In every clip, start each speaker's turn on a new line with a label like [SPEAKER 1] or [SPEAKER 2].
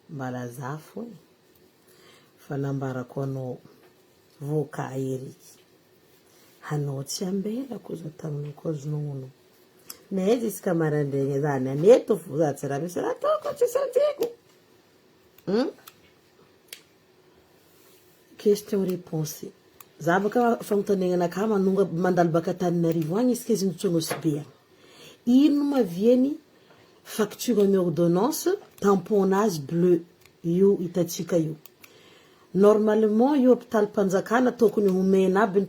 [SPEAKER 1] Mba lazafo e! Fa nambarako anao voka ery hanao tsy ambela koza taminao ko azo nono mais jusqu'à marandraigna zany any eto fo za tsy raha misy raha ataoko tsy sanjeko hum Question reponse Zava ka fanontaniagna anakahy manonga mandalo baka Antananarivo agny izy ka izy nijotso Anosibe agny ino ma viany facture ny ordonnance tampon nazy bleu io hitatsika io normalement io hopitaly panjakana tokony homena aby ny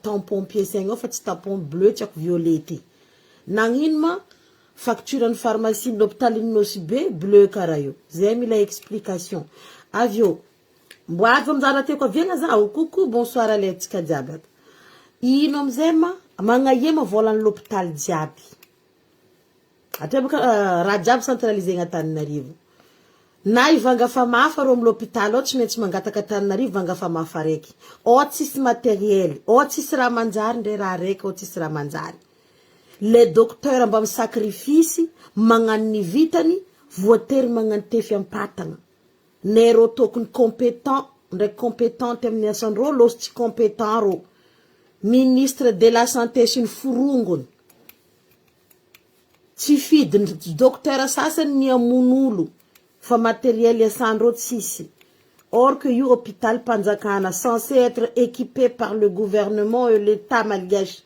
[SPEAKER 1] tampon piece agny ao fa tsy tampon bleu tsy ako violet ty nagnino ma Facture ny pharmacie ny hopitaly ny nosy be bleu kara io zay mila explication avy eo mbo azo anjara tiako avela zaho coucou bonsoir aletsika jiaby ato ino amizay ma magnahema volan'ny lopitaly jiaby atrebaka raha jiaby centralisé ny Antananarivo na i vanga famafa ro am lopitaly ao tsy maintsy mangataka Antananarivo vanga famafa raiky ao tsisy materiel ao tsisy raha manjary ndray raha raiky ao tsisy raha manjary Le docteur mba misacrifice magnano ny vitany voatery magnantefy ampatagna ne rô tôkony competent ndraiky competente aminy asany rô lôsy tsy competent rô ministre de la santé sy ny forongony tsy fidiny docteur sasany ny amono olo fa materiel iasany rô tsisy or que io hôpital mpanjakana censé être équipé par le gouvernement et l'etat malgache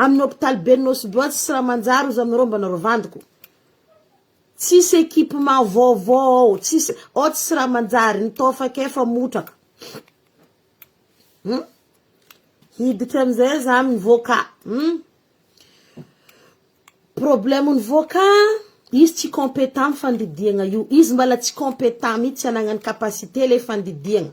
[SPEAKER 1] Amin'ny hopitaly ben'ny Nosy-Boatsy sy Ramanjary hozy aminareo mba narovandiko. Tsisy equipement vaovao ao, tsisy, ao tsy Ramanjary, ny tao faka efa motraka. Hum. Hiditra amin'izay za amin'ny voka. Hum. Problème ny voka, izy tsy compétent amin'ny fandidiagna io, izy mbala tsy compétent mihitsy, tsy anagnany capacité le fandidiagna.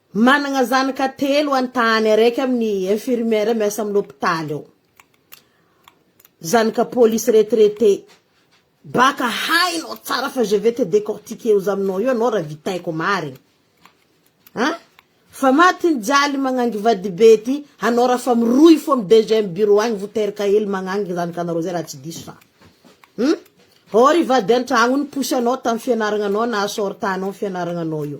[SPEAKER 1] Managna zanaka telo any tany araiky aminy infirmière miasa aminy hopitaly ao. Zanaka police retraité. Baka hainao tsara fa je vais te décortiquer ozy aminao io anao raha vitaiko marigny. An? Fa maty ny jaly magnangy vadibe ty anao raha fa mirohy fô am deuxième bureau agny vo teraka hely magnangy zanakanareo zay raha tsy diso fa. Hum? Or i vady antragno niposy anao tam fianaragnanao naha sort anao am fianaragnanao io.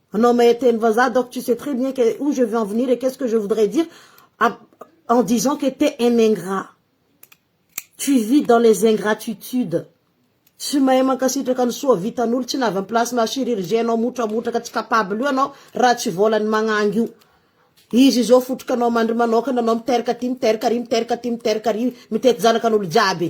[SPEAKER 1] Anao mahay teny vazaha donc tu sais très bien que où je veux en venir et qu'est-ce que je voudrais dire en disant que t'es un ingrat. Tu vis dans les ingratitudes. Tsy mahay mankasitraka ny soa vitan'olo, tsy na avy am-place na chirurgien anao motramotraka, tsy capable io anao raha tsy vôlan'ny magnangy io. Izy izao fotroka anao mandry manôkana anao miteraka aty miteraka ary miteraka aty miteraka ary mitety zanakan'olo jiaby.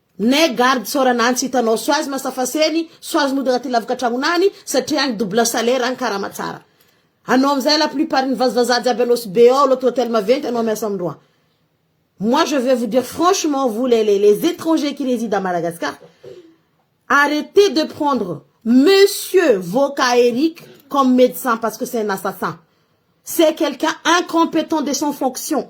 [SPEAKER 1] N'ai garde sao raha nantsy hitanao soazy masafaseny, soazy mody anaty lavaka tragnonany satria agny double salaire agny karama tsara. Anao amizay la plupart ny vazivazaha jiaby anao sy be ao loto hotel maventy anao miasa amindroa. Moi je vais vous dire franchement vous les les les etrangers qui reside à Madagascar arretez de prendre monsieur Voka Eric comme medecin parce que c'est un assassin c'est quelqu'un incompetent de son fonction.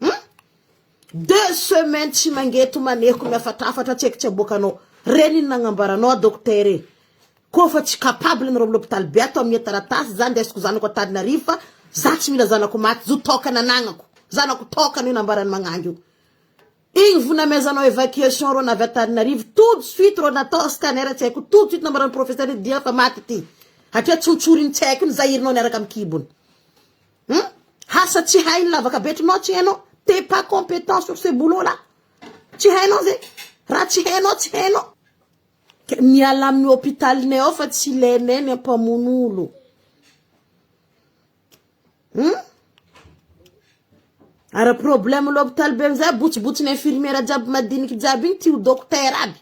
[SPEAKER 1] Hum? Deux semaines tsy mangeto maneiko miafatrafatra tsy haiko tsy aboakanao. Reny iny nagnambaranao a docteur e. Koa fa tsy capable ny roble hôpital be ato amie taratasy za ndesiko zanako Antananarivo fa za tsy mila zanako maty zo toaka nanagnako. Zanako toaka anio nambarany magnangy io. Igny vo namezanao evacuation rô navy Antananarivo tout de suite rô natao scanner tsy haiko tout de suite nambarany professeur dia fa maty ity. Hatria tsontsoriny tsy haiko iny zahirinao niaraka am kibony. Hum asa tsy hainy lavaka be trinao tsy hainao t'es pas competent sur ce boulot là tsy hainao zay raha tsy hainao tsy hainao ka miala amin'ny hopitalinay ao fa tsy ilainay ny ampamono olo hum ara problème l'hôpital be amizay botsibotsy ny infirmière jiaby madiniky jiaby igny ty ho docteur aby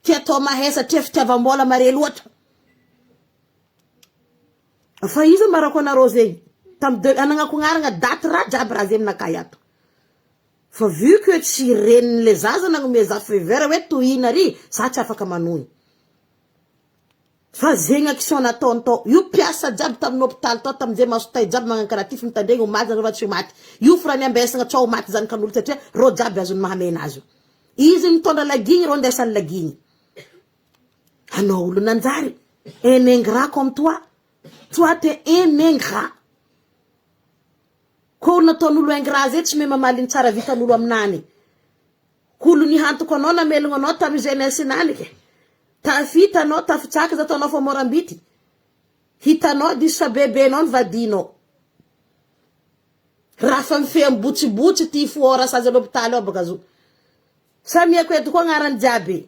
[SPEAKER 1] ty atao mahay satria fitiavam-bola mare loatra Fa iza ma rako anareo zegny tam de anagnakognaragna daty raha jiaby raha zegny nakay ato fa vu que tsy reniny le zaza nagnome za fever hoe tohina ary za tsy afaka manohy fa zegny action nataony tao io mpiasa jiaby tamin'ny hopitaly tao tamin'izay maso tay jiaby magnano karaha ty fa mitandregny ho maty zareo fa tsy ho maty io fo raha niambesagna sao ho maty zanakan'olo satria reo jiaby azony mahamena azy io izy mitondra lagigny reo ndesany lagigny Anao olo nanjary un ingrat comme toi toi t'es un ingrat ko nataon'olo ingrat zay tsy mahay mamaly ny tsara vitan'olo aminany ko olo nihantoko anao namelogno anao tamy jeunesse nany ke tafita anao tafitsaka za taonao fa morambity hitanao diso fa bebenao ny vadinao raha fa mifehy mibotsibotsy ty foora sazy any hopitaly ao baka zo samia ko eto ko agnarany jiaby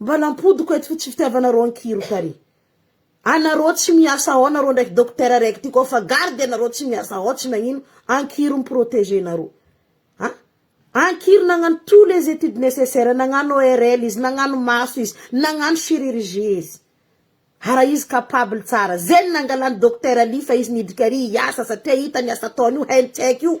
[SPEAKER 1] Mba nampodiko eto tsy fitiavanareo ankihiroka ary anareo tsy miasa ao nareo ndraiky docteur raiky ty koa fa garde anareo tsy miasa ao tsy nagnino ankihiry miproteger nareo a ankihiry nagnano tous les études nécessaires nagnano ORL izy nagnano maso izy nagnano chirurgie izy hara izy capable tsara zay ny nangalany docteur Ly fa izy nidika ary hiasa satria hitany asa ataony io hainy tsy haiko io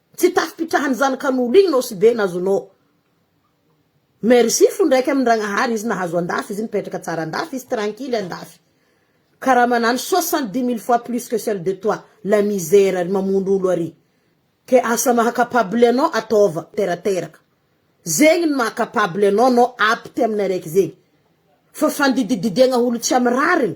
[SPEAKER 1] Tsy tafipitrahan'ny zanakan'olo igny nao sy be na zo nao. Merci fo ndraiky amin-dragnahary izy nahazo andafy izy nipetraka tsara andafy izy tranquille andafy. Karaha manano soixante dix mille fois plus que celle de toi la misère ary mamono olo ary. Ke asa maha capable anao ataova terateraka. Zegny ny maha capable anao nao apte amin'ny araiky zegny. Fa fandidididiagna olo tsy amy rariny.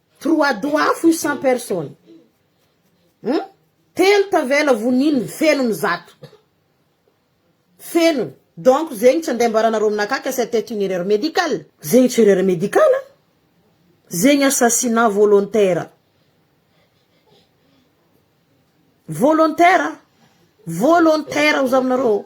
[SPEAKER 1] Trois doigts fohy sans personne hum telo tavela vonininy fenony zato fenony donc zegny tsy andeha ambaranareo aminakahy que c'etait une erreur médicale. Zegny tsy erreur médicale a! Zegny assassinat volontaire volontaire volontaire hozavinareo ô!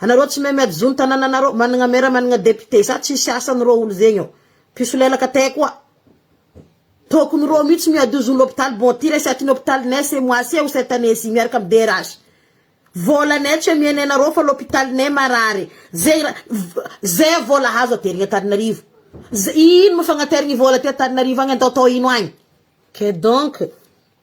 [SPEAKER 1] Anareo tsy mahay miady zony tanananareo managna maire managna député sa tsisy asany reo olo zegny ô mpisolelaka tey koa tokony reo mitsy miady io zony hôpitaly bon ty resaky ny hôpitaly nay ce mois ci ou cette année ci miaraka amy DRH vôla nay tsy amienay nareo fa lôpitaly nay marary zegny ra ze vôla azo aterigny antananarivo ze ino mo fagnaterigny vôla aty antananarivo agny atao atao ino agny que donc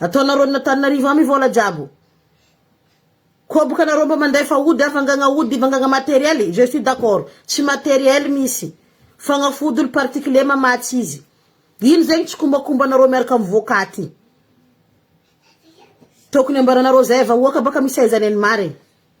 [SPEAKER 1] Ataonareo ny Antananarivo amy vola jiaby o. Koa bokanareo mba mandefa ody havangagna ody vangagna materiel je suis d'accord tsy materiel misy fagnafody olo particule mamatsy izy ino zegny tsikombakombanareo miaraka amy voka ty tokony ambaranareo zay vahoaka baka misy aizany any marigny.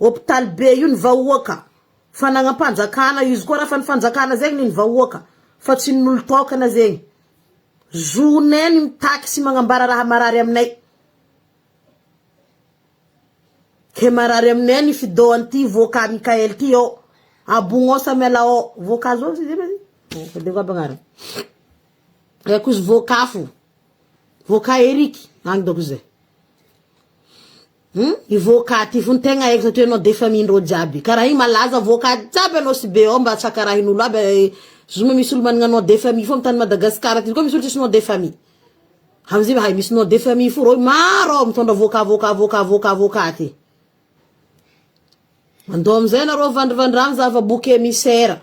[SPEAKER 1] Hopitaly be io ny vahoaka fa nagnampanjakana izy koa raha fa ny fanjakana zegny ny ny vahoaka fa tsy ny nolotokana zegny zonay ny mitaky sy magnambara raha marary aminay ke marary aminay ny fidô anty voaka Mickael ty ô abogno sa miala ô voaka zao zay ma zay tadidiko aby agnarany eh koa izy voaka afo voaka Eric agny dôko zay. Hum i voka ty fony tegna aiko zato enao defa mindreo jiaby kara igny malaza voka jiaby anao sy be ao mba tsy akarahinolo aby e zoma misy olo managna nom de famille fô am tany Madagascar aty koa misy olo tsisy nom de famille amizay va hay misy nom de famille fo reo maro ao mitondra voka voka voka voka voka ty mandao amizay nareo vandrivandrano zava boka emisera.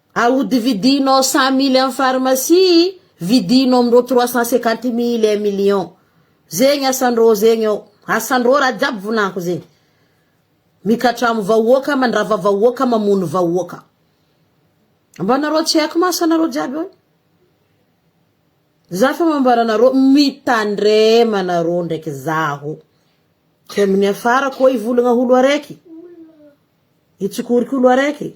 [SPEAKER 1] Ahodividihinao cent mille amin'ny pharmacie, vidino amin'ireo trois cent cinquante mille un million. Zegny asan'ireo zegny eo. Asan'ireo raha jiaby volanko zegny. Mikatramo vahoaka, mandrava vahoaka, mamono vahoaka. Mba anareo tsy haiko ma asanareo jiaby eo e. Za fa mambara anareo, mitandrema anareo ndraiky zaho. Tsy amin'ny hiafarako hoe hivolagna olo araiky, hitsokoriko olo araiky.